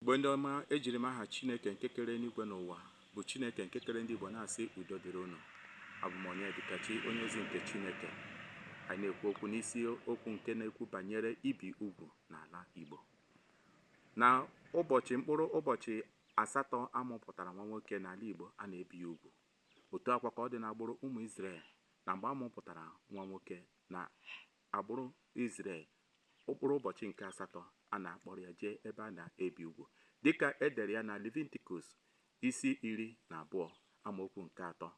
Igbo ndị ọma ejiri m aha Chineke nke kere eluigwe na ụwa bụ Chineke nke kere ndị Igbo na-asị udo dịrị unu abụ m Onyedikachi onye ozi nke Chineke anyị na-ekwu okwu n'isi okwu nke na-ekwu banyere ibi ugwu n'ala Igbo na ụbọchị mkpụrụ ụbọchị asatọ a mụpụtara nwa nwoke n'ala Igbo a na-ebi ya ugwu otu a kwa ka ọ dị n'agbụrụ ụmụ Izrel na mgbe a mụpụtara nwa nwoke na Agbụrụ Izrel, mkpụrụ ụbọchị nke asatọ a na-akpọrọ ya jee ebe a na-ebi ugwu, dị ka e dere ya na Levitikọs isi iri na abụọ amaokwu nke atọ.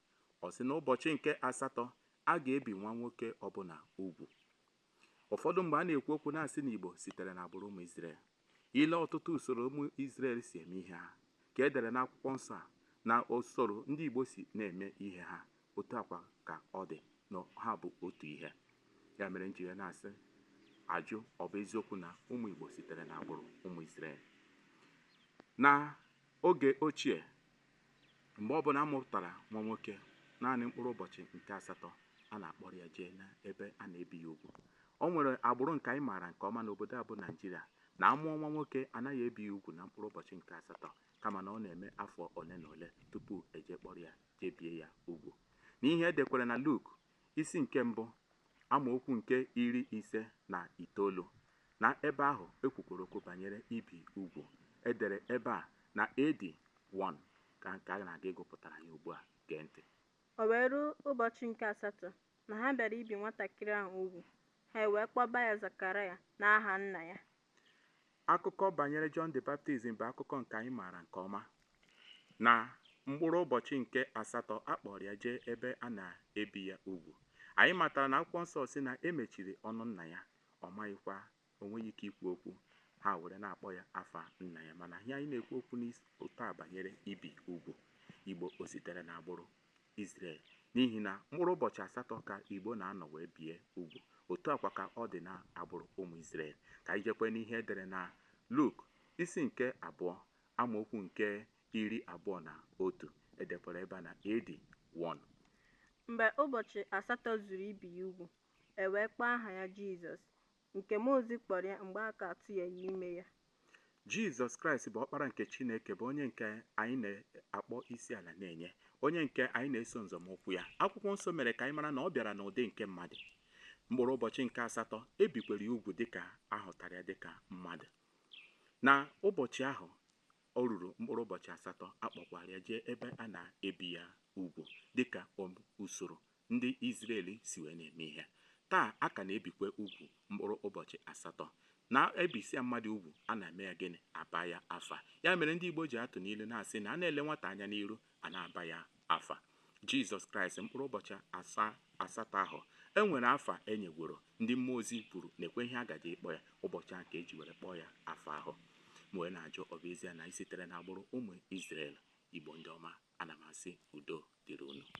Ọ sị na ụbọchị nke asatọ, a ga-ebi nwa nwoke ọbụla ugwu. Ụfọdụ mgbe a na-ekwu okwu na-asị na Igbo sitere n'agbụrụ ụmụ Izrel. I lee ọtụtụ usoro ụmụ Izrel si eme ihe ha ka e dere n'akwụkwọ nsọ a na usoro ndị Igbo si na-eme ihe ha, otu a kwa ka ọ dị na ha bụ otu ihe. Ya mere m ji wee na-asị ajụ ọ bụ eziokwu na ụmụ Igbo sitere n'agbụrụ ụmụ Izrel. Na oge ochie, Mgbe ọbụla a mụpụtara nwa nwoke, naanị mkpụrụ ụbọchị nke asatọ, a na-akpọrọ ya jee n'ebe a na-ebi ya ugwu. O nwere agbụrụ nke anyị maara nke ọma n'obodo a bụ Naịjirịa na a mụọ nwa nwoke, a naghị ebi ya ugwu na mkpụrụ ụbọchị nke asatọ kama na ọ na-eme afọ ole na ole tupu e jee kpọrọ ya jee bie ya ugwu. N'ihe e dekwere na Luk isi nke mbụ, amaokwu nke iri ise na itoolu, na ebe ahụ e kwukworo okwu banyere ibi ugwu. E dere ebe a na AD 1, ka nke a na-aga ịgụpụtara ya ugbu a. Gee ntị. O wee ruo ụbọchị nke asatọ na ha bịara ibi nwatakịrị ahụ ugwu, ha ewee kpọba ya Zekaraya n'aha nna ya. Akụkọ banyere John the Baptism bụ akụkọ nke anyị maara nke ọma. Na mkpụrụ ụbọchị nke asatọ a kpọọrọ ya jee ebe a na-ebi ya ugwu. Anyị matara na akwụkwọ nsọ sị na e mechiri ọnụ nna ya, ọ maghịkwa, o nweghị ike ikwu okwu, ha were na-akpọ ya afa nna ya. Mana ihe anyị na-ekwu okwu n'ụtụtụ a banyere ibi ugwu. Igbo o sitere n'agbụrụ Izrel, n'ihi na mkpụrụ ụbọchị asatọ ka Igbo na-anọ wee bie ugwu. Otu a kwa ka ọ dị n'agbụrụ ụmụ Izrel. Ka anyị jekwee n'ihe e dere na Luk isi nke abụọ amaokwu nke iri abụọ na otu. E dekwara ebe a na AD 1. Mgbe ụbọchị asatọ zuru ibi ya ugwu, e wee kpọọ aha ya Jizọs, Nke mmụọ ozi kpọrọ ya mgbe a ka atụnyeghị ime ya. Jizọs Kraịst bụ Ọkpara nke Chineke bụ onye nke anyị na-akpọ isi ala na-enye, onye nke anyị na-eso nzọmụkwụ ya. Akwụkwọ nsọ mere ka anyị mara na ọ bịara n'ụdị nke mmadụ. Mkpụrụ ụbọchị nke asatọ e bikwere ya ugwu dịka a hụtara ya dịka mmadụ. Na ụbọchị ahụ o ruru mkpụrụ ụbọchị asatọ a kpọkwara ya jee ebe a na-ebi ya ugwu dịka o- usoro ndị Izrel si wee na-eme ihe. Taa, a ka na-ebikwa ugwu mkpụrụ ụbọchị asatọ. Na e bisịa mmadụ ugwu, a na-eme ya gịnị? A baa ya afa. Ya mere ndị Igbo ji atụ n'ilu na-asị na a na-ele nwata anya n'iru, a na-aba ya afa. Jizọs Kraịst mkpụrụ ụbọchị asatọ ahụ e nwere afa e nyegworo ndị mmụọ ozi kwuru nekwe ihe a gaje ịkpọ ya ụbọchị ahụ ka e ji were kpọọ ya afa ahụ. M wee na-ajụ ọ bụ ezie na anyị sitere n'agbụrụ ụmụ Izrel? Igbo ndị ọma, ana m asị udo dịrị unu.